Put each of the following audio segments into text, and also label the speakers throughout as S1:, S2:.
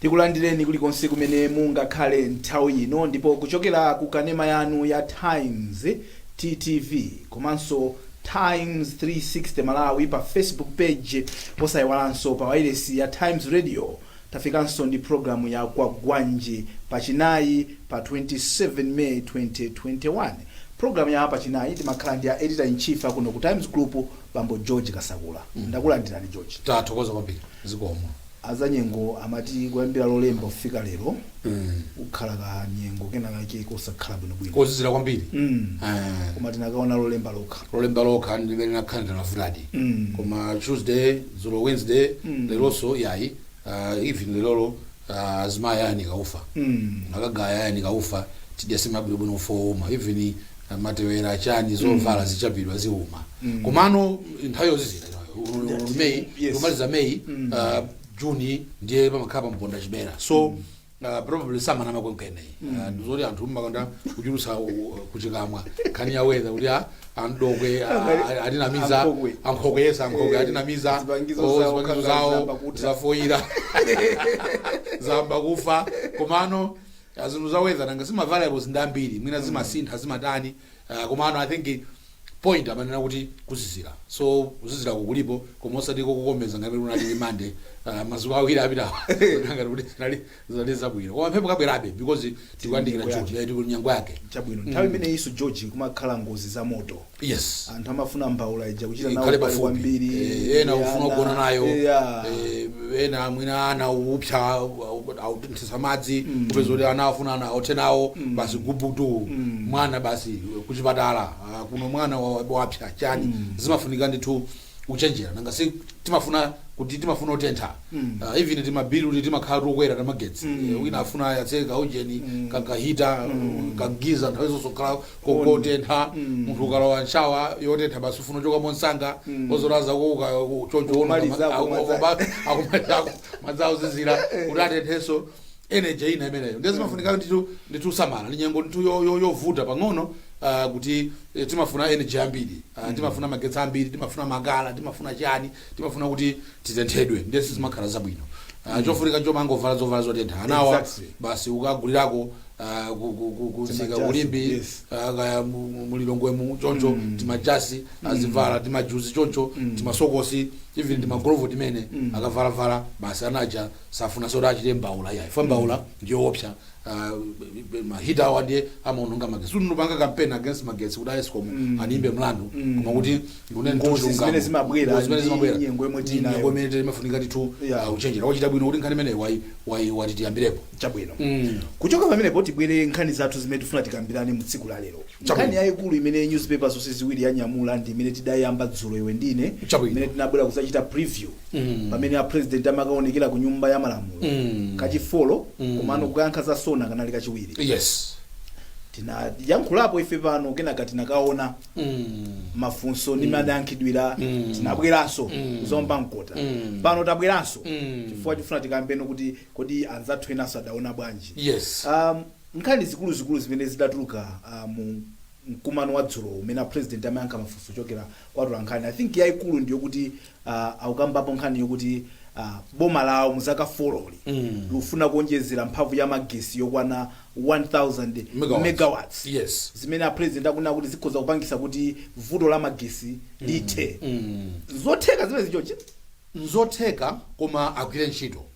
S1: Tikulandireni kulikonse kumene mungakhale nthawi ino ndipo kuchokera ku kanema yanu ya Times, TTV, komanso Times 360 Malawi pa Facebook page posaiwalanso pa wailesi ya Times Radio Tafikanso ndi pulogalamu ya Kwagwanji pa chinayi pa 27 May 2021. Pulogalamu ya pa chinayi timakhala ndi a Editor in Chief a kuno ku Times Group bambo George Kasakula. Ndakulandirani George. Tathokoza kwambiri.
S2: Zikomo. Azanyengo
S1: amati kuyambira lolemba kufika lero. kukhala ka nyengo kena kake kosakhala bwinobwino kozizira kwambiri Mm.
S2: Eh,
S1: koma tinakaona lolemba lokha lolemba lokha ndi limene nakhala
S2: ndinavutadi Mm. koma tuesday dzulo wednesday Mm. leronso yayi ah, even lerolo ah, azimayi ayanika ufa Mm. akagaya ayanika ufa tidya nsima bwinobwino ufa wouma even ah, matewera chani zovala zichapidwa ziuma komano nthawi yozizira meyi Yes. kumaliza meyi Mm. ah, juni ndiye pamakhala pa mponda chibera so uh, probably samanama kwenikweni uh, ndizoti anthu amakonda kuchulutsa uh, kuchikamwa nkhani ya weather kuti ah, andokwe ah, ah, atinamiza Ankhokwe. ankhokwe yesa ankhokwe Eh, atinamiza zipangizo oh, zawo, zipangizo kanga zawo zayamba kutha. zafoyira zayamba kufa komano ah, zinthu za weather nanga si ma variables ndi ambiri mwina zimasintha zimatani Ah, komano i think point amanena kuti kuzizira so kuzizirako kulipo koma osati kokukomeza ngati unali ndi Monday ah, madzuwa awiri apitawo ngati kuti zinali zinali zabwino koma mphepo kabwerabe because tikuyandikira Nyimbo june tili nyengo yake chabwino nthawi
S1: imeneyinso george kumakhala ngozi za moto yes anthu
S2: amafuna
S1: mbaula ija kuchita nayo ikhale pali pafupi kwambiri Eh, ena ufuna ana, kugona
S2: nayo eya. Eh, ena mwina ana upsa za madzi kupeza kuti ana afuna ana othe nawo basi gubutu mwana basi kuchipatala ah, kuno mwana wa- wapsa chani zimafunika ndithu kuchenjera nanga si timafuna kuti timafuna kutentha Ah, even timabilu kuti timakhala tokwera tamagetsi Eh, wina afuna ayatse kaujeni kaya kahita kagiza nthawi zonse kukhala kokotentha munthu ukalowa nshawa yotentha basi ufuna uchoka mwamsanga ozolaza kuuka choncho Kumaliza, kumaliza. madzi auzizira kuti atenthenso energy ina imeneyo ndiye zimafunika ndithu kusamala ndi nyengo ndithu yo- yo- yovuta pang'ono ah, kuti eh, timafuna energy ambiri Ah, timafuna magetsi ambiri timafuna makala timafuna chani timafuna kuti titenthedwe ndiye sizimakhala zabwino Ah, chofunika chomangovala zovala zotentha anawa Exactly. basi ukagulirako ah, ku- ku- ku- kunsika Timajasi, ku Limbe yes. ah, kaya mu- mu- mulilongwemu choncho timajasi azivala timajuzi choncho, timasokosi even timagolovo timene akavalavala basi anaja safunanso kuti achite mbaula yayi ifa mbaula ndiyoopsa ah, ma heater awa ndiye amaononga magetsi kuti sindikupanga campaign against magetsi kuti a ESCOM andiyimbe mlandu koma kuti tikunena Ngozi chilungamo.
S1: zimene zimabwera Ngozi zimene ndi zimabwera nyengo yomwe
S2: ndi tinayo. nyengo imene timafunika ndithu Yeah. ah, kuchenjera wachita bwino kuti nkhani imeneyi wayi- wayi- watitiyambirepo chabwino Mm.
S1: kuchoka pamenepo tibwere nkhani zathu zimene tifuna tikambirane mu tsiku la lero Nkhani yaikulu imene nyuzipepa zonse ziwiri yanyamula ndi imene tidaiyamba dzulo iwe ndi ine, Chabwino. imene tinabwera kudzachita preview pamene a President amakaonekera ku Nyumba ya Malamulo kachi four komano kukayankha za SONA kanali kachiwiri. yes Tinayankhulapo ife pano kenaka tinakaona mafunso ndi mmene adayankhidwira tinabweranso kuzaomba mkota. Pano tabweranso chifukwa chofuna tikambirane kuti kodi anzathu enanso adaona bwanji. yes Um, Nkhani zikuluzikulu zimene zidatuluka mu mkumano wa dzulo mmene a President amayankha mafunso kuchokera kwa atolankhani, I think yaikulu ndiyokuti akukambapo nkhani yokuti boma lawo mu zaka folozi likufuna kuonjezera mphamvu ya magesi yokwana 1000 megawatts zimene
S2: a President
S1: akunena kuti zikhoza kupangitsa kuti vuto la magesi lithe. Nzotheka zimenezi George? Nzotheka
S2: koma agwire ntchito.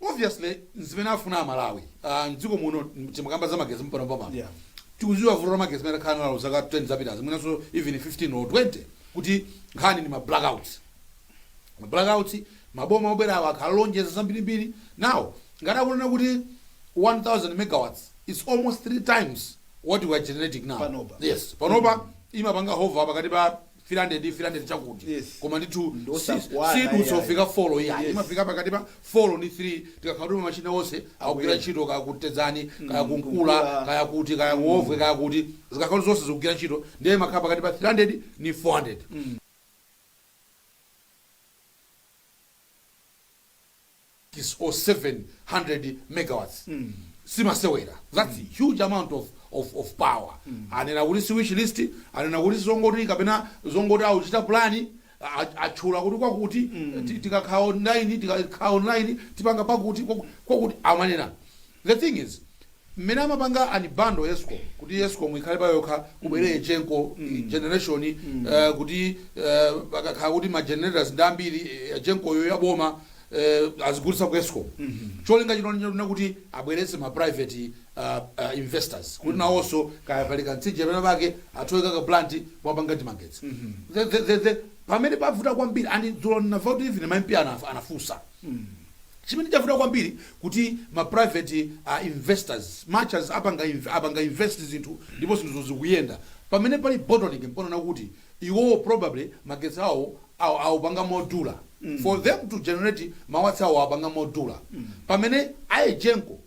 S2: Obviously nzimene afuna aMalawi Ah, mdziko muno timakamba za magesi mpano pamano Yeah. tikuziwa vuto la magesi mmene takhala nalo zaka 10 zapitazi mwinanso even 15 or 20 kuti nkhani ndi ma blackouts ma blackouts maboma obwera awa akhala akulonjeza zambirimbiri now ngati akunena kuti 1000 megawatts is almost three times what we are generating now Panopa. yes panopa imapanga hover pakati pa 300 300 chakuti Yes. koma ndithu Ndi si- osakwana sidutsa iyayi. kufika folo iyayi Yes. imafika pakati pa folo ndi 3 tikakhala kuti machina onse akugwira Akuyenda. ntchito kaya ku Tedzani kaya Mm, ku Nkula ku Nkula. kaya kuti kaya ku Wovwe kaya kuti zikakhala kuti zonse zikugwira ntchito ndiye imakhala pakati pa 300 ndi 400 6 or 7 hundred megawatts si masewera that's huge amount of of of power anena kuti si wish list anena kuti zongoti kapena zongoti akuchita plan a- atchula kuti kwakuti ti- tikakhala online tikakhala online tipanga pakuti kwaku- kwakuti amanena The thing is mmene amapanga unbundle ESCOM kuti ESCOM ikhale payokha kubwere EGENCO, generation kuti pakakhala kuti ma generators ndi ambiri EGENCO yo ya boma azigulitsa ku ESCOM cholinga chinali chonena kuti abweretse ma private investors kuti nawonso kaya pali kamtsinje pena pake athe kuika ka plant apanga timagetsi The- the- the- the- pamene pavuta kwambiri and dzulo ndinamva kuti even ma MP anafunsa Chimene chavuta kwambiri kuti ma private investors, much as apanga apanga invest zinthu ndipo zinthuzo zikuyenda, pamene pali bottleneck mponena kuti iwowo probably magetsi awo awo awapanga modula, for them to generate ma watts awo awapanga modula pamene a Egenco.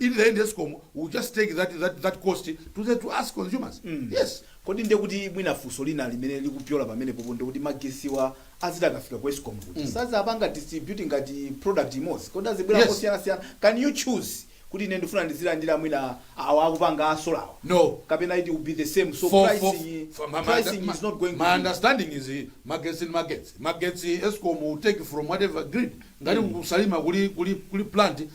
S2: In the end Escom will just take that, that, that cost to, the, to us consumers. Mm. Yes. kodi ndiye kuti
S1: mwina funso lina limene likupyola pamenepopo ndiye kuti magesiwa azidzati akafika ku escom kuti mm. sadzapanga distribute ngati product imodzi kodi azidzabwera Yes. kosiyanasiyana can you choose kuti ine ndifuna ndizilandira mwina awa akupanga a solar-wa No. kapena it will be the same so For- for- pricing, for- my- my- pricing my- is not going to my be- understanding is
S2: eh, magetsi ni magetsi magetsi escom will take from whatever grid ngati ku Salima kuli kuli kuli plant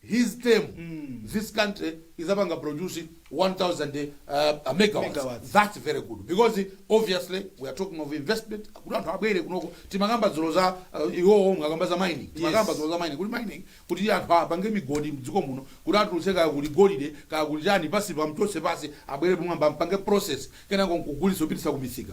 S2: his term this country idzapanga produce 1000 megawatts thats very good because obviously we are talking of investment kuti anthu abwere kunoko timakamba dzulo za uh, iwowo mukakamba za mining timakamba dzulo za mining kuti mining kuti anthu apange migodi mdziko muno kuti atulutse kaya kuli golide kaya kuli chani pansi amchotse pansi abwere pamwamba ampange process kenako nkugulitsa kupititsa kumisika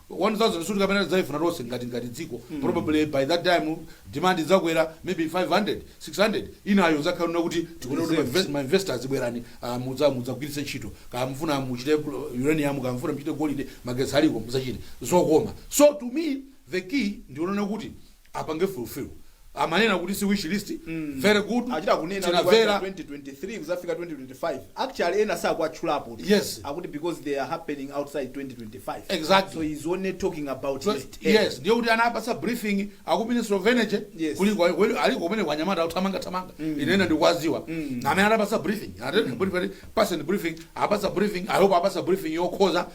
S2: 1000 sikuti kapena tidzaifuna tonse ngati ngati dziko probably by that time demand idzakwera maybe 500 600 inayo idzakhala yonena kuti tikuuza kuti ma invest- ma investors bwerani ah, mudza mudzagwiritse ntchito kaya mufuna muchite uh, uranium kaya mufuna muchite golide magetsi aliko mudzachite zokoma so to me the key ndi yonena kuti apange fulfill amanena kuti si wish list very good achita kunena kuti kuyambira
S1: tinamvera
S2: 2023
S1: kuzafika 2025 actually ena sakuwatchulapotu. Yes. akuti because
S2: they are
S1: happening outside 2025 Exactly. so he's
S2: only talking
S1: about So, next year. yes
S2: ndiye kuti anapasa briefing aku minister of energy Yes. kuli kwa- kweli aliko kumene anyamata othamanga thamanga ine ndikuwadziwa amene anapasa briefing atenda kuti pali person briefing apasa briefing i hope apasa briefing yokhoza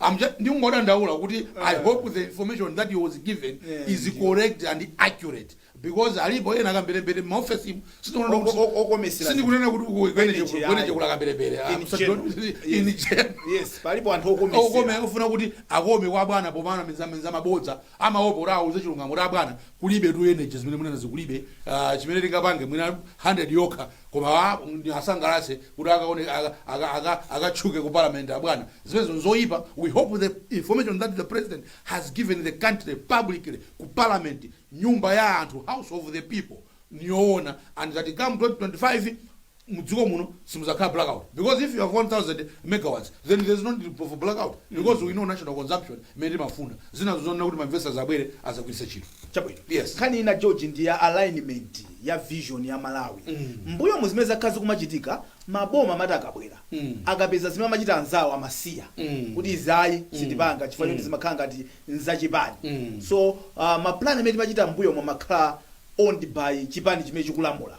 S2: I'm just, ndingodandaula kuti uh, i hope the information that he was given yeah, is yeah. correct and accurate because alipo ena akambelembele m'maofesimu sindikunena kuti ku energy kuli kambelembele palipo
S1: anthu okomesera ofuna kuti akome
S2: kwa bwana pomanamiza mabodza amaopa kuti awauze chilungamo kuti abwana kulibetu energy zimene mukunenazi kulibe uh, chimene tingapange mwina 100 yokha koma ah, andisangalatse kuti akaone aka- aka- aka- akatchuke ku parliament abwana zimenezo nzoyipa we hope the information that the president has given the country publicly ku parliament nyumba ya anthu house of the people niyoona and that come 2025 mdziko muno simudzakhala blackout because if you have 1000 megawatts then there is no need for blackout because we know national consumption imene timafuna zinazo zonena kuti ma investors abwere azagwiritse ntchito chabwino Yes. nkhani
S1: ina george
S2: ndi ya
S1: alignment ya vision ya malawi mbuyo mu zimene zakhala zikumachitika maboma amati akabwera akapeza zimene amachita anzawo amasiya kuti izi ayi sitipanga chifukwa choti zimakhala ngati nzachipani so uh, mapulani amene timachita mbuyomu amakhala owned by chipani chimene chikulamula.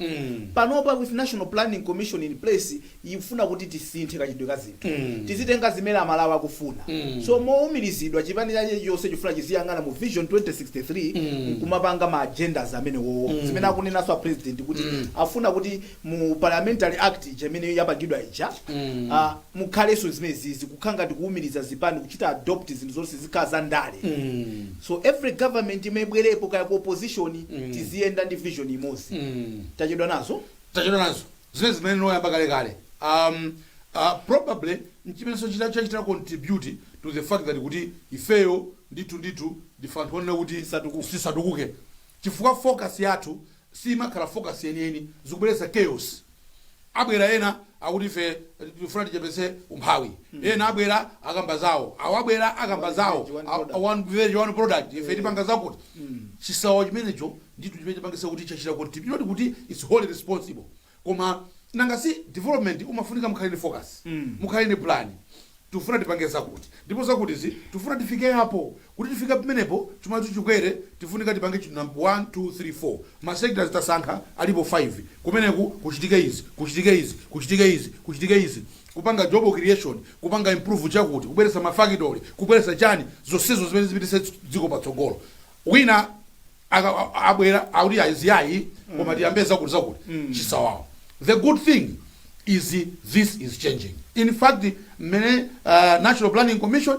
S1: Panopa with National Planning Commission in place ikufuna kuti tisinthe kachitidwe ka zinthu. Tizitenga zimene Amalawi akufuna. So mowumirizidwa chipani china chilichonse chifuna chiziyang'ana mu Vision 2063 nkumapanga ma agendas amenewowo. Zimene akunenanso a President kuti afuna kuti mu parliamentary act ija imene yapangidwa ija mm. uh, mukhalenso zimenezizi kukhala ngati kuwumiriza zipani kuchita adopt zinthu zonse zikhala za ndale mm. so every government imene ibwerepo kaya ku opposition mm. tiziyenda ndi vision imodzi mm. tachedwa nazo tachedwa nazo zimene zimene noyamba kale kale um, uh, probably nchimenenso chachita contribute to the fact that kuti ifeyo ndithu ndife anthu onena kuti tisatukuke chifukwa focus yathu siimakhala focus yeniyeni zikubweretsa chaos abwera ena akuti ife tifuna tichepetse umphawi ena abwera akamba zawo awo abwera akamba zawo One village, one product. one village, one product ife tipanga zakuti chisawawa chimenecho ndithu chimene chipangisa kuti chachita contribute kuti its wholly responsible koma nanga si development umafunika mukhale ndi focus mukhale ndi plan tifuna tipange zakuti ndipo zakutizi tifuna tifike apo kuti tifike pamenepo chuma chathu chikwere tifunika tipange chinthu number 1 2 3 4 ma sectors tasankha alipo 5 kumeneku kuchitike izi kuchitike izi kuchitike izi kuchitike izi kupanga job creation kupanga improve chakuti kubweretsa ma factory kubweretsa chani zonsezo zimene zipititse dziko patsogolo wina aka- a- abwera akuti ah iyayi koma tiyambe zakuti zakuti chisawawa the good thing is this is changing in fact mmene uh, national planning commission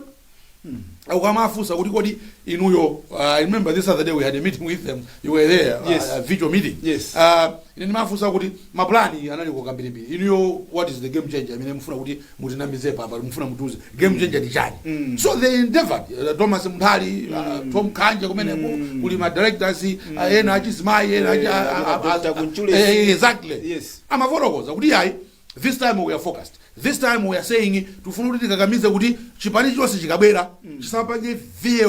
S1: ukamafunsa kuti kodi inuyo uh, I remember this other day we had a meeting with them you were there Yes. uh, a virtual meeting Yes. uh, ine ndimafunsa
S2: kuti mapulani analiko kambirimbiri inuyo what is the game changer imene mufuna kuti mutinamizepo apa mufuna mutiuze game changer ndi chani so they endeavored uh, thomas munthali uh, tom khanje kumeneko kuli ma directors uh, ena achizimayi ena achi- Eh, a- a- a- Dr. a- Kunchule. eh, exactly Yes.
S1: amafotokoza kuti
S2: ayi this time we are focused this time we are saying tifuna kuti tikakamize kuti chipani chonse chikabwera chisapange veer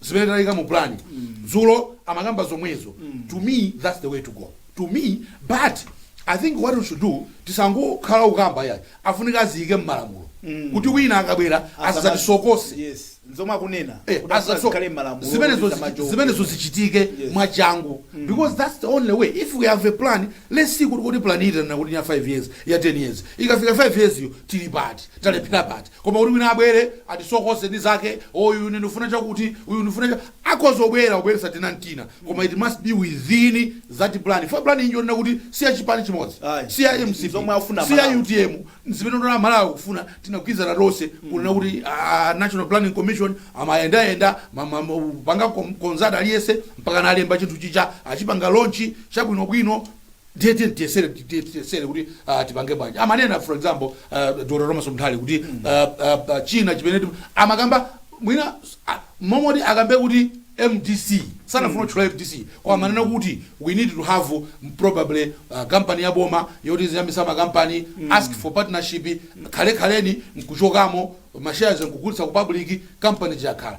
S2: zimene taika mu plan dzulo amakamba zomwezo to me that's the way to go to me but i think what we should do tisangokhala ukamba yayi afunika aziyike mmalamulo kuti wina akabwera asazatisokose yes
S1: nzomwe akunena Eh, kuti asazo- asakhale malamulo zimenezo kuti zichi-
S2: samajoke. zimenezo zichitike Yes. mwachangu because that's the only way if we have a plan let's see kuti kuti plan itanena kuti ya 5 years ya 10 years ikafika 5 years yo tili pati talephera pati Koma kuti wina abwere atisokoneze ndi zake oh uyu ine ndikufuna chakuti uyu ndikufuna cha. Akhoza kubwera kubweretsa tina n'tina koma it must be within that plan chifukwa plan iyi njonena kuti si ya chipani chimodzi, Ayi. si ya mcp, si ya utm, ndi zimene ndaona Amalawi akufuna. Tinagwirizana tonse kunena kuti ah, National Planning Commission amayendayenda ma- ma- ma- panga kom- konsati aliyense mpaka analemba chinthu chija achipanga lonchi chabwinobwino ndiye tiyeni tiyesere ti- ti- tiyesere kuti ah, tipange bwanji amanena for example uh, dr thomas mthali kuti ah, ah, ah, china chimene tim- amakamba mwina ah, momoti akambe kuti mdc sanafuna kutchula mdc koma amanena kuti we need to have um, probably uh, kampani ya boma yoti ziyambisa makampani ask for partnership khalekhaleni nkuchokamo mashares nkugulitsa ku public kampani chakhala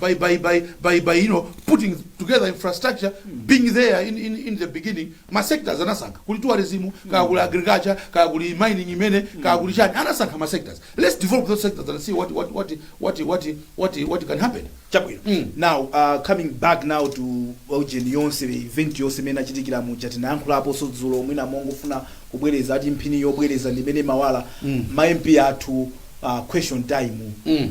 S2: by by by by by you know putting together infrastructure being there in in, in the beginning ma sectors anasankha kuli tourism kaya kuli agriculture kaya kuli mining imene kaya kuli chani anasankha ma sectors let's develop those sectors and see what what what what what what, what can happen chabwino Mm. now
S1: uh, coming back now to ujeni yonse event yonse imene yachitikira muja tinayankhulaponso dzulo mwina mongofuna kubwereza ati mphini yobwereza ndi imene imawala Mm. ma mp athu uh, question time Mm.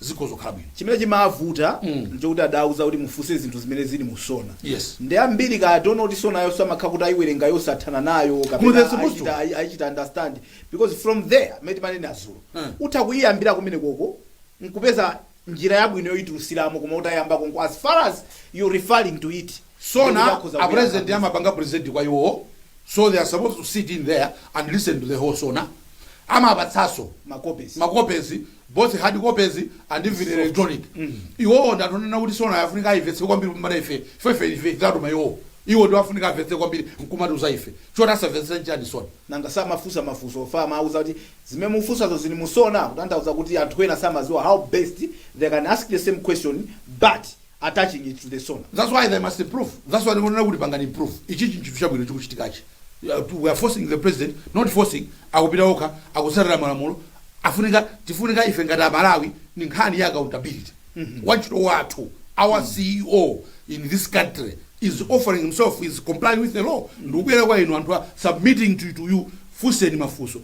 S1: zikhoza kukhala bwino chimene chimavuta Mm. nchokuti adauza kuti mufunse zinthu zimene zili mu sona Yes. ndiye
S2: ambiri
S1: kaya I don't know kuti sona yonse amakhala kuti ayiwerenga osathana nayo Well, kapena they're supposed to. ayichita- ayi- ayichita understand because from there mmene timanena azulo Mm. utha kuyiyambira kumene konko nkupeza njira yabwino yoyitulutsiramo koma utayamba konko as far as you referring to it sona
S2: a president amapanga present kwa iwo so they are supposed to sit in there and listen to the whole sona amapatsaso makopesi makopesi both hard copies and even Soft. electronic iwowo ndi anthu onena kuti sona afunika ayivetse kwambiri kuposa ife ife ife ife tatuma iwowo iwo ndi afunika avetse kwambiri nkumatiuza ife choti asavetse nchani sona nanga
S1: samafunsa mafunso ofana amauza kuti zimene mufunsezo zili musona kutanthauza kuti anthu ena samaziwa how best they can ask the same question but attaching it to the sona that's why they must
S2: improve that's why ndikunena kuti apange improve ichichi nchinthu chabwino chikuchitikachi we are forcing the president not forcing akupita okha akutsatira malamulo afunika tifunika ife ngati amalawi ni nkhani ya accountability wantchito wathu our ceo in this country is offering himself is complying with the law ndikubwera kwa inu anthu submitting to, to you funseni mafunso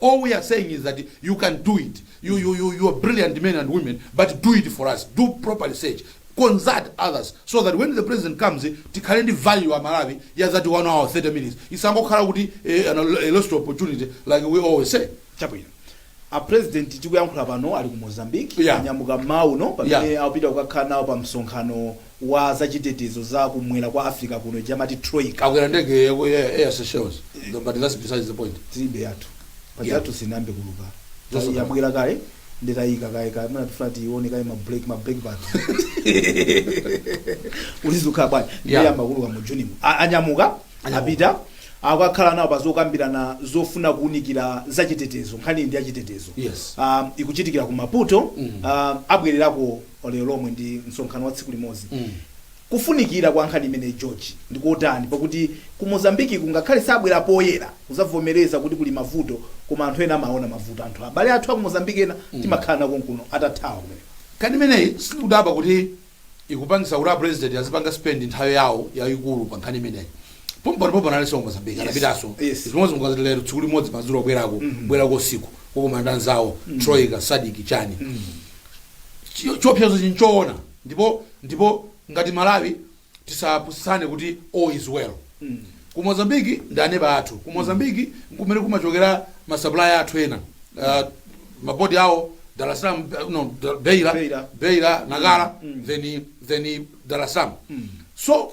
S2: all we are saying is that you can do it you, you, you, you are brilliant men and women but do it for us do proper research consult others so that when the president comes tikhale ndi value amalawi ya that one hour 30 minutes isangokhala kuti eh, an- a lost opportunity like we always say chabwino
S1: a president tikuyankhula pano ali ku mozambique Yeah. anyamuka mmawa uno pamene Yeah. akupita kukakhala nawo pa msonkhano wa za chitetezo za ku mwera kwa Africa kuno ija amati Troika. Akwera ndege ya ku
S2: Air, Air Seychelles. No, but that's besides
S1: the
S2: point.
S1: Tilibe yathu. Paja. Yeah. Yathu sinayambe
S2: kuuluka. Just
S1: Tayi- Yabwera
S2: kaye
S1: ndi tayiyika kaye kaye mwana tifuna tione kaye ma break ma brake pad. Uli zukha bwana. Yeah. Ndiye iyamba kuuluka mu June. mu. A- Anyamuka Anyamuka. apita akakhala nawo pazokambirana zofuna kuunikira za chitetezo nkhani ndi ya chitetezo Yes. um, ikuchitikira ku Maputo Mm. um, abwererako lero lomwe ndi msonkhano wa tsiku limodzi kufunikira kwa nkhani imeneyi George ndi kotani pakuti ku Mozambikiku ngakhale sabwera poyera kuzavomereza kuti kuli mavuto koma anthu ena amaona mavuto anthu abale athu a ku Mozambiki ena timakhala nawo konkuno atathawa kumene nkhani
S2: imeneyi sindikudabwa kuti ikupangisa kuti apresident azipanga spend nthawi yawo yayikulu pa nkhani imeneyi pompano pompano analinso ku Mozambiki anapitanso Yes. zimodzi mukadzati lero tsiku limodzi madzulo abwerako bwerako usiku kukakumana ndi anzawo Troika SADC chani Chi- chiopsezo chinchoona ndipo ndipo ngati Malawi tisapusitsane kuti all is well ku Mozambiki ndi aneba athu ku Mozambiki nkumene kumachokera masapulaya athu ena uh, mapoti awo Dar es Salaam eh, no, Da- Beira Beira. Beira Nacala then then Dar es Salaam so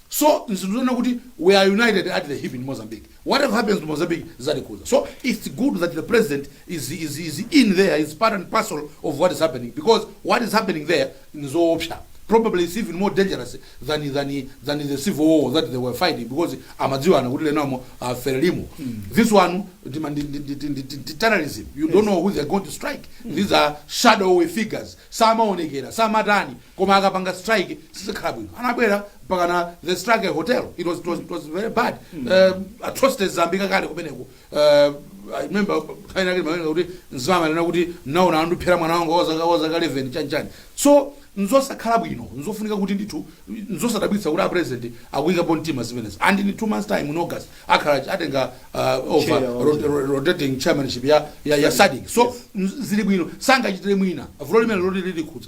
S2: So nzinthu zonena kuti we are united at the hip in Mozambique. Whatever happens to Mozambique zatikhudza. So its good that the president is is is in there is part and parcel of what is happening because what is happening there nzoopsa. Probably it's even more dangerous than than than the civil war that they were fighting because amadziwana kuti lenamo aferelimo. This one ndima- ndi- ndi- ndi- ndi- ndi- ndi terrorism. You don't know who they're going to strike. These are shadowy figures. Samaonekera, samatani. koma akapanga strike sizikhala bwino anabwera mpaka na they struck a hotel it was, it was, it was very bad uh, atrocities zambiri kale kumeneko uh, I remember nthawi inake ndimawerenga kuti mzimayi anena kuti naona andiphera mwana wanga wazaka wazaka 11 chanchani so nzosakhala bwino nzofunika kuti ndithu nzosadabwitsa kuti apresident akuyikapo mtima zimenezi and in two months time in August akhala atenga uh, over Chair wa- rot- ro- rotating chairmanship ya, ya, ya SADC so m- zili bwino sangachitire mwina vuto limene loti lilikhudza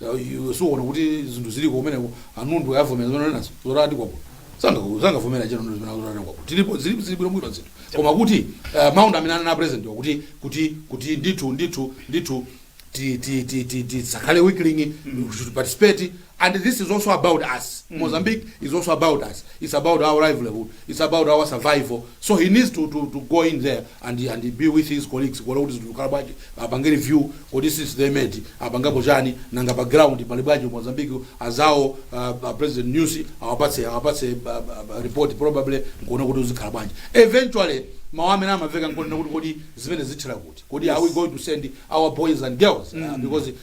S2: Ya, iwe sukuona kuti zinthu ziliko kumeneko a Nyusi avomera zimene unenazo zotati kwakuno Sanga- sangavomera chero nundu zimene zotati kwakuno tilipo zili zili bwino bwino zinthu koma kuti uh, mawu amene anena president wathu kuti kuti kuti ndithu ndithu ndithu ti- ti- ti- ti- tisakhale weak link we should participate and this is also about us Mozambique is also about us it's about our livelihood it's about our survival so he needs to, to, to go in there and and be with his colleagues kuona kuti zinthu zikhala bwanji apange review kodi since they met apangapo chani nanga pa ground pali bwanji ku Mozambique anzawo uh, uh, President Nyusi awapatse awapatse uh, uh, report probably nkuona kuti zikhala bwanji eventually mawu amene amamveka nkonena kuti kodi zimene zithera kuti kodi are we going to send our boys and girls uh, because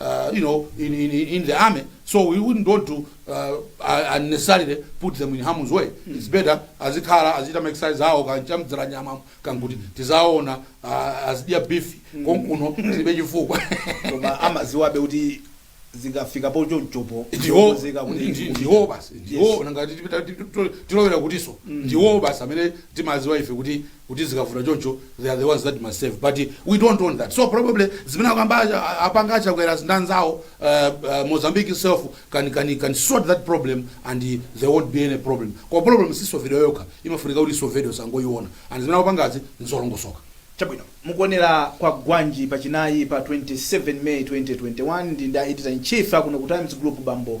S2: uh, you know, in, in, in the army. So we wouldn't want to uh, uh, unnecessarily put them in harm's way. Mm. It's better azikhala azichita ma exercise awo kumadya nyama kuti tizaona uh, azidya beef mm. konkuno zilibe chifukwa
S1: koma amaziwabe kuti zingafika po chonchopo ndiye zika kuti ndi-
S2: ndiwo basi ndiwo nanga tilowera kutinso ndiwo basi amene timaziwa ife kuti kuti zikavuta choncho they are the ones that must save but we don't want that so probably zimene akamba a- apanga achakwerazi ndi anzawo uh, uh, mozambique itself can, can, can sort that problem and uh, there won't be any problem koma problem sisovedwa yokha imafunika kuti isovedwe osangoyiona and zimene akupangazi nzolongosoka
S1: chabwino mukuonera kwa gwanji pachinayi pa 27 may 2021 ndili ndi editor in chief akuno ku times group bambo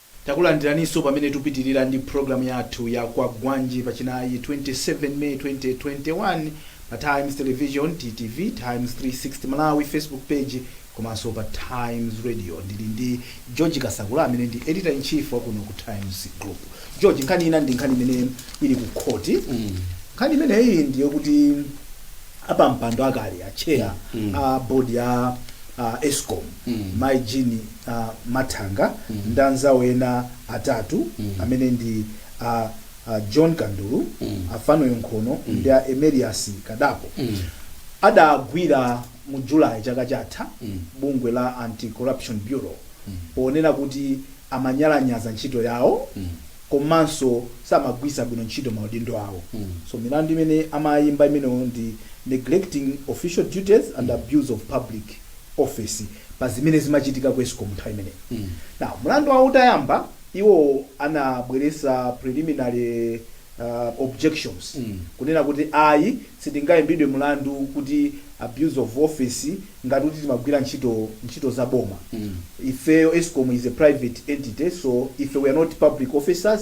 S1: Takulandiraninso pamene tupitilira ndi program yathu ya Kwagwanji pa chinayi 27 May 2021 pa Times Television, TTV, Times 360 Malawi Facebook page komanso pa Times Radio. Ndili ndi George Kasakula amene ndi Editor in Chief wa kuno ku Times Group. George, nkhani ina ndi nkhani imene ili ku khoti. Nkhani imeneyi ndi yokuti apampando akale, a chair a board ya a escom mai Jean a Mathanga ndi anzawo ena atatu amene ndi a a John Kandulu, a Fanuel Nkhono ndi a Emerius Kadako adagwidwa mu July chaka chatha ndi bungwe la Anti-Corruption Bureau ponena kuti amanyalanyaza ntchito yawo komanso samagwiritsa bwino ntchito maudindo awo. So milandu imene amayimba imenewo ndi neglecting official duties and abuse of public. office pa zimene zimachitika ku escom nthawi imeneyo now mlandu wawo utayamba iwo anabweresa preliminary uh, objections kunena kuti ayi sitingayimbidwe mlandu kuti abuse of office ngati kuti timagwira ntchito ntchito za boma ifeyo escom is a private entity so ife we are not public officers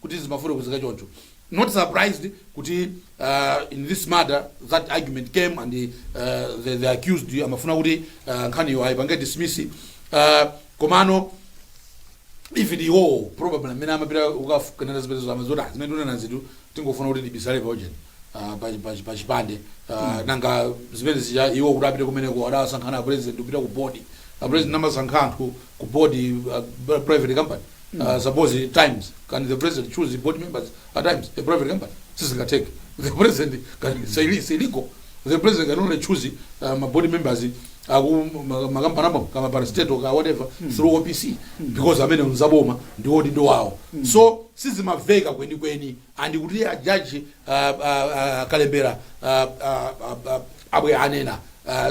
S2: kuti zimafotokozeka choncho not surprised kuti uh, in this matter that argument came and uh, the, the accused amafuna kuti uh, nkhaniyo ayipange dismiss uh, komano even iwowo probably amene amapita kukafufuzira zitetezo amadziwa kuti "Ah, zimene tikunenazitu tingofuna kuti tibisale paujeni pachipande nanga zimene zija iwo kuti apite kumeneko adawasankha ndi apresident kupita ku bodi apresident amasankha anthu ku bodi uh, private company uh, suppose times can the president choose the board members at times a private company sizingateke the president can it's ill- it's illegal the president can only choose uh, ma board members aku ma- makampani amo kama parastatal ka whatever through opc because amene mzaboma ndi odi ndi wawo so sizimaveka kwenikweni and kuti a judge Kalembera abwera anena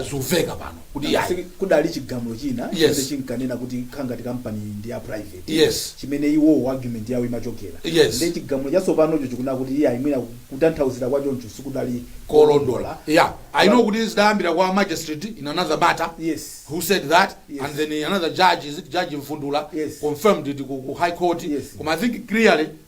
S2: zuveka pano kuti yayi kudali chigamulo
S1: china Yes. chimene chinkanena kuti
S2: kukhala
S1: ngati kampani ndi ya private Yes. chimene iwowo
S2: argument
S1: yawo imachokera Yes. ndi chigamulo chatsopanocho chikunena kuti iyayi mwina kutanthauzira kwa choncho sikudali
S2: kolondola yeah i know kuti zidayambira kwa magistrate in another matter Yes. who said
S1: that Yes.
S2: and then another
S1: judge
S2: is it judge mfundula Yes. confirmed it
S1: ku, ku
S2: high court Yes. koma i think clearly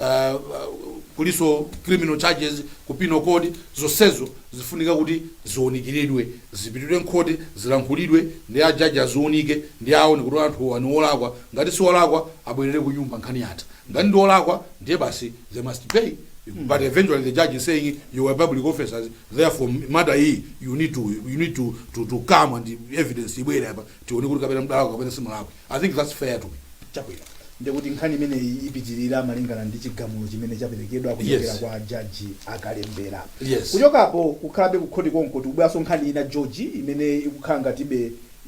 S2: uh, kulinso criminal charges ku penal code zonsezo zifunika kuti ziunikiridwe zipitidwe mkhoti zilankhulidwe ndi ajaji aziunike ndiye aone kuti anthu awa ndi olakwa ngati si olakwa abwerere ku nyumba nkhani yatha ngati ndi olakwa ndiye basi they must pay but eventually the judge is saying you are public officers therefore matter iyi you need to you need to to, to come and evidence ibwere apa tione kuti kapena mdalakwa kapena simulakwa I think that's fair to me. Chabwino.
S1: Ndiye kuti nkhani imeneyi ipitirira malingana ndi chigamulo chimene chaperekedwa kuchokera Yes. kwa jaji a Kalembera. Yes. Kuchokapo kukhalabe kukhoti konko tikubwerenso nkhani ina George imene ikukhala ngati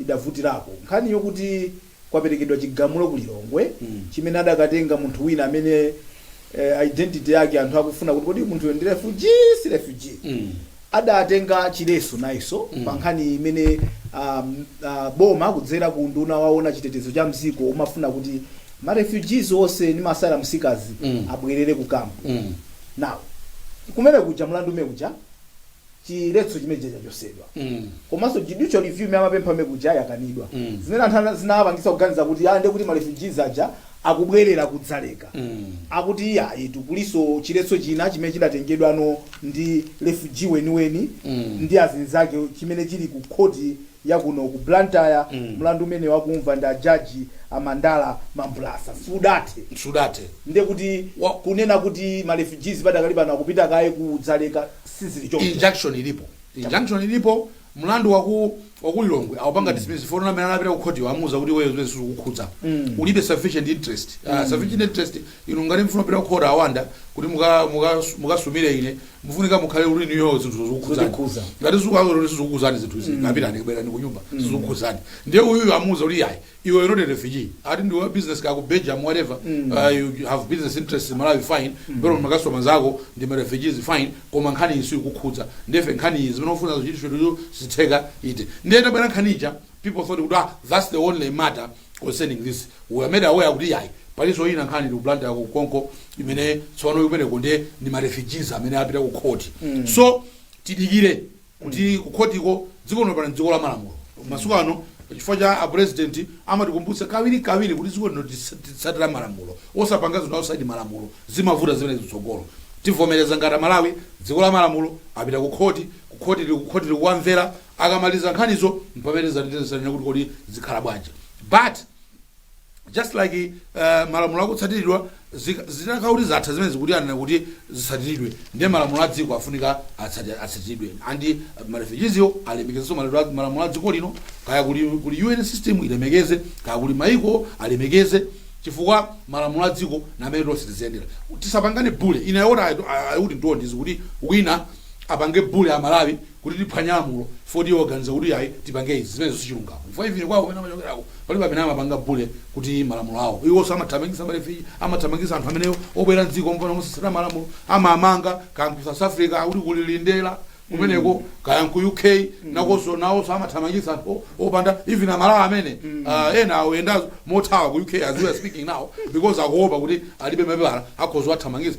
S1: idavutirako. Nkhani yokuti kwaperekedwa chigamulo ku Lilongwe chimene adakatenga munthu wina amene eh, identity yake anthu akufuna kuti kodi munthuyo ndi refugee si refugee Mm. adatenga chiletso nayenso mm. pa nkhani imene um, uh, boma kudzera ku nduna woona chitetezo cha m'dziko limafuna kuti ma refugees onse ndi ma asylum seekers Mm. abwerere ku kampu Mm. now kumene kuja mlandu umene kuja chiletso chimene chija chachotsedwa komanso judicial review imene amapempha mmene kuja yakanidwa zimene anthu ana- zinawapangitsa kuganiza kuti ah ndiye kuti ma refugees aja akubwerera ku Dzaleka akuti iyayitu kulinso chiletso china chimene chidatengedwano ndi refugee weniweni ndi azinzake chimene chili ku khoti yakuno ku blantyre mlandu umene wakumva ndi ajaji a Mandala Mambulasa sudathe sudathe ndiye kuti Wa- kunena kuti ma refugees padakali pano akupita kaye ku Dzaleka sizili choncho injunction ilipo injunction ilipo mlandu waku wakulilongwe aupanga dismiss chifukwa amene anapita kukhoti amuuza kuti iweyo zimenezi sizikukukhudza ulibe sufficient interest Ah, sufficient interest inu ngati mukufuna kupita kukhoti a Wanda kuti muka- muka- mukasumire ine mufunika mukhale muli nazo zinthu Zotikhudza. zokukhudzani ngati sizikukukhudzani zinthu izi kapitani kubwerani kunyumba sizikukukhudzani ndiye uyuyu amuuza kuti yayi Iwe you're not a refugee ati ndiwe wa business kaya ku Belgium whatever uh, you have business interests in Malawi fine pena ma customers ako ndi ma refugees fine koma nkhani iyi sikukukhudza therefore nkhani iyi zimene ufuna zichitike iweyo sizitheka ayi ndiye tabwera nkhani ija people thought kuti ah that's the only matter concerning this we were made aware kuti yayi palinso ina nkhani ndi ku Blantyre konko imene tsopano kumeneko ndiye ndi ma refugees amene apita ku court so tidikire kuti kukhotiko dziko lino pano ndi dziko la malamulo masiku ano
S2: chifukwa cha a purezidenti amatikumbutsa kawiri kawiri kuti dziko lino tisa- titsatira malamulo osapanga zinthu outside malamulo zimavuta zimenezi mtsogolo tivomereza ngati aMalawi dziko la malamulo apita ku khoti kuti khoti li- khoti likuwamvera akamaliza nkhanizo mpamene zatetezesanena kuti kodi zikhala bwanji but just like uh, malamulo akutsatiridwa zika- zitakhala kuti zatha zimene zikuti anena kuti zitsatiridwe ndiye malamulo a dziko afunika atsati- atsatiridwe and marefujiziwo alemekezenso mala- malamulo a dziko lino kaya kuli, kuli un system ilemekeze kaya kuli maiko alemekeze chifukwa malamulo a dziko namene tonse tiziyendera tisapangane bule ine ayi that's what I don't need kuti wina apange bule a malawi kuti tiphwanye lamulo chifukwa kuti iwo waganiza kuti ai tipange izi, zimenezo sichilungamo chifukwa even kwao kumene amachokeraku palibe amene amapanga bule kuti malamulo awo, iwonso amathamangisa marefugee, amathamangisa anthu amene obwera mdziko mopanda mosatsata malamulo, amamanga, kaya nku south africa akuti kuli lindela kumeneko kaya nku UK nakonso nawonso amathamangisa anthu opanda even amalawi amene ah, ena akuyenda mothawa ku UK as we are speaking now because akuopa kuti alibe mapepala akhoza kuwathamangisa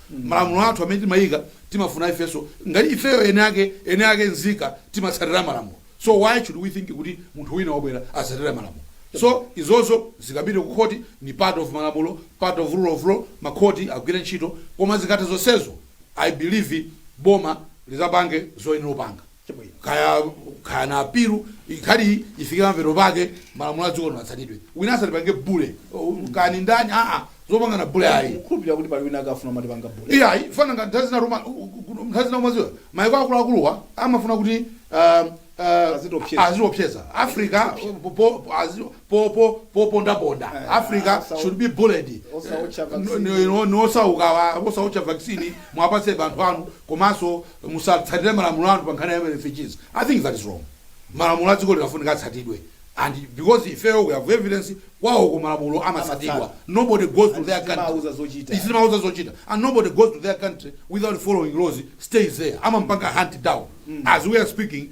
S2: malamulo athu amene timayika timafuna ifenso ngati ifeyo eni ake eni ake nzika timatsatira malamulo so why should we think kuti munthu wina wobwera asatsatire malamulo so izozo zikapita ku khoti ni part of malamulo part of rule of law makhoti agwire ntchito koma zikatha zonsezo i believe boma lizapange zoyenera kupanga Chabwino, kaya kaya na apilu ikhale ifike pamathero pake malamulo a dziko lino atsatidwe. Wina asatipange bule. Oh, kaya ni ndani? Ah ah. Zopangana bule ayi. Kukhulupirira kuti pali wina akufuna
S1: kumatipanga bule. Iya ayi. Chifukwa ngati nthawi zina
S2: Roma nthawi zina umaziwa. Maiko akuluakuluwa amafuna kuti um, uh, Azitiopseza. aziopseza. Africa po po azi- po po po ponda ponda. Eh, Africa asa- should be bullied. Osawotcha vaccine. No- no- no- Nosauka osawotcha vaccine muwapatse anthu anu komanso musatsatire malamulo anu pa nkhani ya refugees i think that is wrong malamulo a dziko lino afunika atsatidwe and because ifeyo we have evidence kwawoko malamulo amatsatidwa Amatsata. nobody goes to And their country sitimawauza zochita. Sitimawauza zochita and nobody goes to their country without following laws stays there amampanga hunt down as we are speaking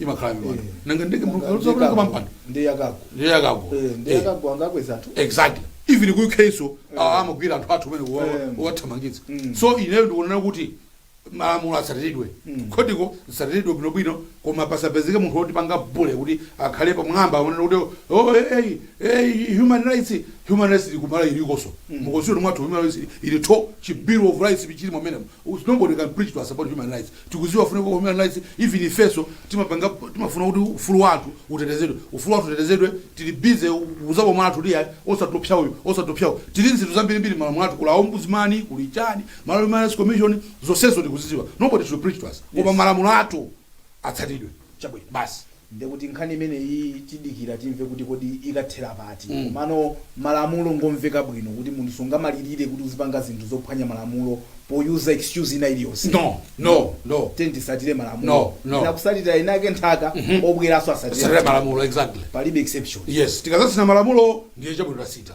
S2: imakhala mipando Eh. nanga ndege Nanga mlungu ndiyekako. kama mpando Ndiye yakako. ndiye yakako Eh, Eh. ndiye
S1: yakako angakweza anthu. exactly
S2: even ku UK so ah, amagwira anthu athu kumene Eh. kuwathamangitsa Mm. so ineyo ndikuona kuti malamulo atsatiridwe Mm. khothiko zitsatiridwe bwinobwino koma pasapezeke munthu wotipanga bule kuti akhale pamwamba aonera kuti oh, hey, hey, human rights human rights kuno ku Malawi ilikonso Mm. mu constitution mwathu human rights ili to chi bill of rights chili mmenemo nobody can preach to us about human rights Tikuziwa kufunika kwa human rights even ifeso timapanga timafuna kuti ufulu wa anthu utetezedwe ufulu wa anthu utetezedwe tili busy kuzabwa mwa anthu tiya osatopsa uyu osatopsa uyu tili ndi zinthu zambiri mbiri mmalamulo athu kuli a ombudsman kuli chani Malawi human rights commission zosezo tikuziziwa nobody should preach to us koma Yes. malamulo athu atsatidwe Chabwino. basi.
S1: Ndiye
S2: kuti
S1: nkhani imeneyi tidikira timve kuti kodi ikathera pati. Komano malamulo ngomveka bwino kuti munthu sungamalilire kuti uzipanga zinthu zophwanya malamulo poyuza excuse ina iliyonse. No! No!
S2: No! Tiyeni
S1: tisatire malamulo. No! No! Ena
S2: kusatira enaake
S1: mpaka, obweranso asatire. Satira malamulo, exactly.
S2: Palibe exception. Yes.
S1: Tikazasiya malamulo
S2: ndiye chabwino tasita.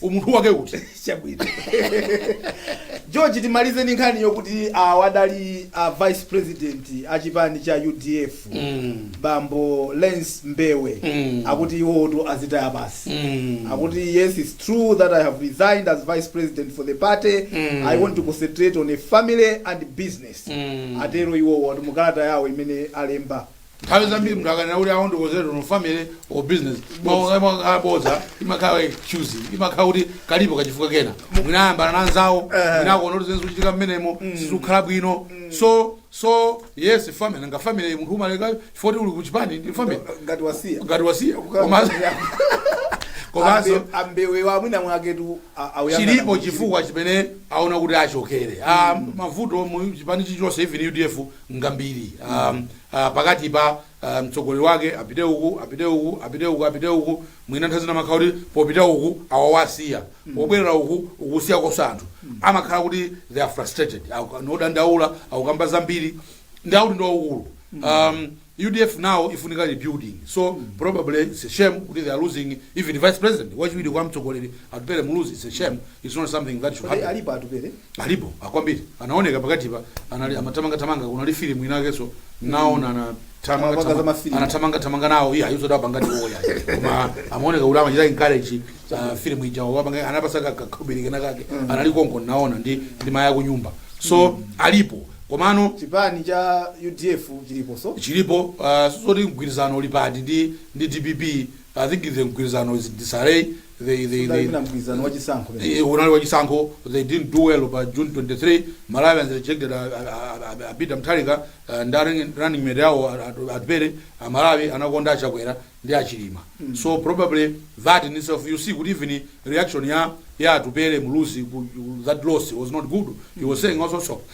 S2: umunthu wake uti
S1: chabwino george timalize ndi nkhani yokuti awa adali a vice president a chipani cha udf bambo lance mbewe Mm. akuti iwotu azitaya basi Mm. akuti yes it's true that i have resigned as vice president for the party Mm. i want to concentrate on a family and business Mm. atero iwowo ati mukalata yawo imene alemba nthawi zambiri
S2: munthu akanena kuti awo ndikozera no family or business limakhala bodza imakhala excuse imakhala kuti kalipo kachifukwa kena mwina ayambana na nzawo mwina akuona kuti zinthu zikuchitika mmenemo sizikukhala bwino so so yes family nga family munthu umaleka chifukwa kuti uli kuchipani ndi family ngati wasiya ngati wasiya komanso komanso A Mbe- a Mbewewa mwina
S1: mwake tu a- auyanga na chilipo munthu.
S2: chifukwa chimene aona kuti achokere Ah, mavuto mu chipani chilichonse even udf ngambiri um, uh, pakati pa uh, mtsogoleri wake apite uku apite uku apite uku apite uku mwina nthawi zina amakhala kuti popita uku awawasiya pobwerera uku ukusiya kosa anthu amakhala kuti they are frustrated Aku- ngodandaula akukamba zambiri ndiye akuti ndi waukulu um, udf now ifunika rebuilding so probably it's a shame kuti they are losing even vice president wachiwiri kwa mtsogoleri Atupele Muluzi it's a shame it's not something that should happen. Alipo Atupele?
S1: Alipo
S2: akwambiri ah, anaoneka pakati pa anali amathamanga thamanga kuna li film inake so naona mm. na thamanga thamanga anathamanga thamanga nao iya yuzo da pangati wo ya koma amaoneka kuti amachita encourage uh, film ija wa panga anapasa ka kakubiri kana kake mm. anali konko naona ndi ndi maya ku nyumba so mm. alipo komano chipani cha
S1: UDF chilipo so chilipo
S2: uh, so ndi mgwirizano uli pati ndi ndi DPP I think the mgwirizano is in disarray. They, they, they, Siudali mgwirizano wa chisankho pamene. Eh, unali wachisankho they didn't do well pa june 23 malawians rejected uh, uh, uh, peter mutharika uh, ndi running- running mate yawo atupele amalawi anakonda a chakwera ndi a chilima so probably that in itself you see kuti even reaction ya ya atupele muluzi ku- ku- that loss was not good he was saying also so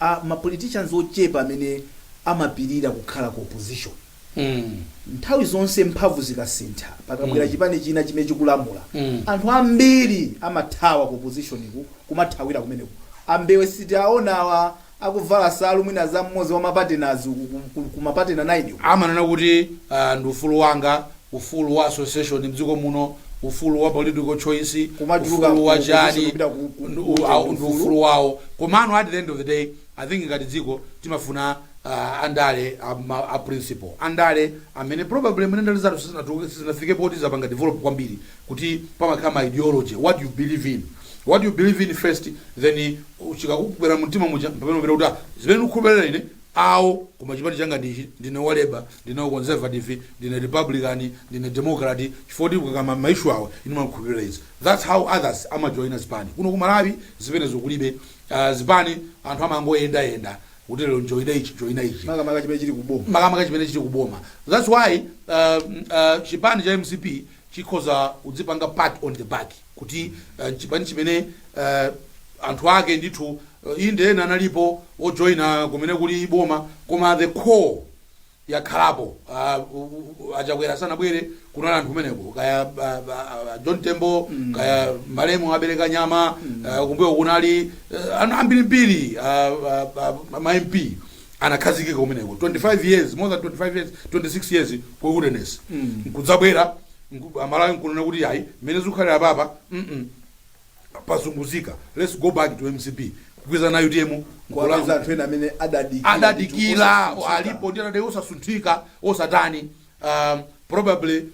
S1: a ma politicians ochepa amene amapirira kukhala ku opposition. Nthawi zonse mphamvu zikasintha, pakabwera chipani china chimene chikulamula, anthu ambiri amathawa ku opposition ku kumathawira kumeneko. A Mbewe sitiwaona awa akuvala nsalu mwina za mmodzi wa ma partners uku ku ma partner 9 uku. Amanena kuti
S2: ndi ufulu wanga ufulu wa association mdziko muno, ufulu wa political choice, Kumatuluka ufulu wa chani, ku- kupita ku- ku- ndu- ku- au- ndi ufulu. ufulu wawo. Komano at the end of the day, I think ngati dziko timafuna ah, andale a ma- a principle, andale amene probably mwina ndale zathu sizinatu- sizinafike poti zapanga develop kwambiri kuti pamakhala ma ideology, what you believe in what you believe in first then chikakubwera mumtima muja mpamene uziti "Ah, zimene ndikukhulupirira ine awo, koma chipani changa ndi ichi, ndine wa Labour, ndine wa Conservative, ndine Republican, ndine Democrat, chifukwa choti akakamba ma issue awo ine ndimakhulupirira izi. That's how others amajoina zipani. Kuno ku Malawi zimenezo kulibe. Ah, zipani anthu amangoyendayenda kuti lero ndijoina ichi, ndijoina ichi. Makamaka chimene chili ku
S1: boma. makamaka chimene chili ku boma. That's why ah, mm, ah,
S2: chipani cha mcp chikhoza kudzipanga pat on the back. kuti uh, chipani chimene uh, anthu ake ndithu uh, inde ena analipo ojoyina kumene kuli boma koma the core yakhalapo uh, achakwera sanabwere kunali anthu kumeneko kaya uh, uh, john tembo mm. kaya malemu a Aleke nyama mm. uh, kumbuyo kunali uh, anthu ambirimbiri uh, uh, uh, mamp anakhazikika kumeneko 25 years more than 25 years 26 years ku wilderness mm. kudzabwera amalawi nkunena kuti yayi mmene zikukhalira apapa mm pasunguzika let's go back to mcp kugwirizana na utm Kuwapeza nkulakwa anthu ena
S1: amene adadikira. adadikila
S2: ndithu, alipo ndi adadai osasunthika osatani um, probably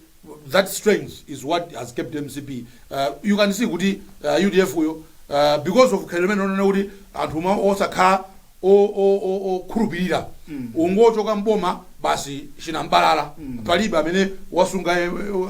S2: that strength is what has kept mcp uh, you can see kuti uh, udf yo uh, because of khalidwe limene onena kuti anthu ma- osakhala okhulupilira ungochoka m'boma basi chinam'balala palibe amene wasunga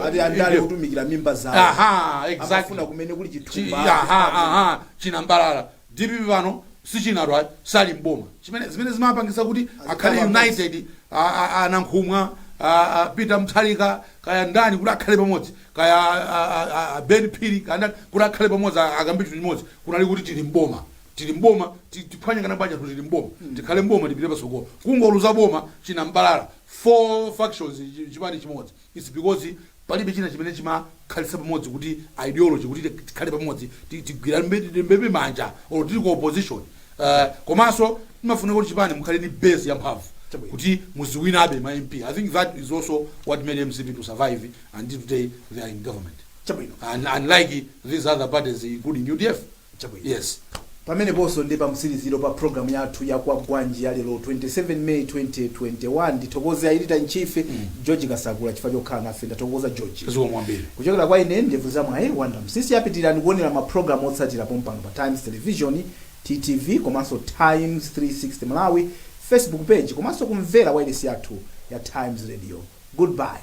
S2: ati andale a
S1: kutumikira mimba zawo Aha, amafuna exactly.
S2: kumene kuli Chi-
S1: chithumba aha, aha, chinambalala
S2: dpp pano si chinanso ayi sali mboma chimene zimene zimapangisa kuti akhale pamodzi. united a- a- a- anankhumwa a- a peter mutharika kaya ndani kuti akhale pamodzi kaya a- a- a- a ben phiri kaya ndani kuti akhale pamodzi a- akambe chinthu chimodzi kunali kuti tili mboma tili m'boma ti, tipange campaign bwanji tili m'boma tikhale m'boma tipite patsogolo kungoluza boma chinambalala four factions chi- chipani chimodzi its because palibe china chimene chimakhalitsa pamodzi kuti ideology kuti ti- tikhale pamodzi ti- tigwiranebe manja or tili ku opposition uh, komanso timafunika kuti chipani mukhale ni base yamphamvu Chabwino. kuti muziwinabe ma mp i think that is also what made mcp to survive until today they are in government chabwino and unlike these other parties including udf Chabwino. Yes.
S1: Pameneponso ndi pamtsiriziro pa programu yathu ya Kwagwanji ya lero 27 May 2021. Ndithokoze a Editor in Chief George Kasakula chifukwa chokhala nafe. Ndathokoza George. Zikomo kwambiri. Kuchokera kwa ine ndevu za mwayi Wonder Msiska pitirirani kuonera mapulogalamu otsatira pompano pa Times Television, TTV komanso Times 360 Malawi Facebook page komanso kumvera wailesi yathu ya Times Radio. Goodbye.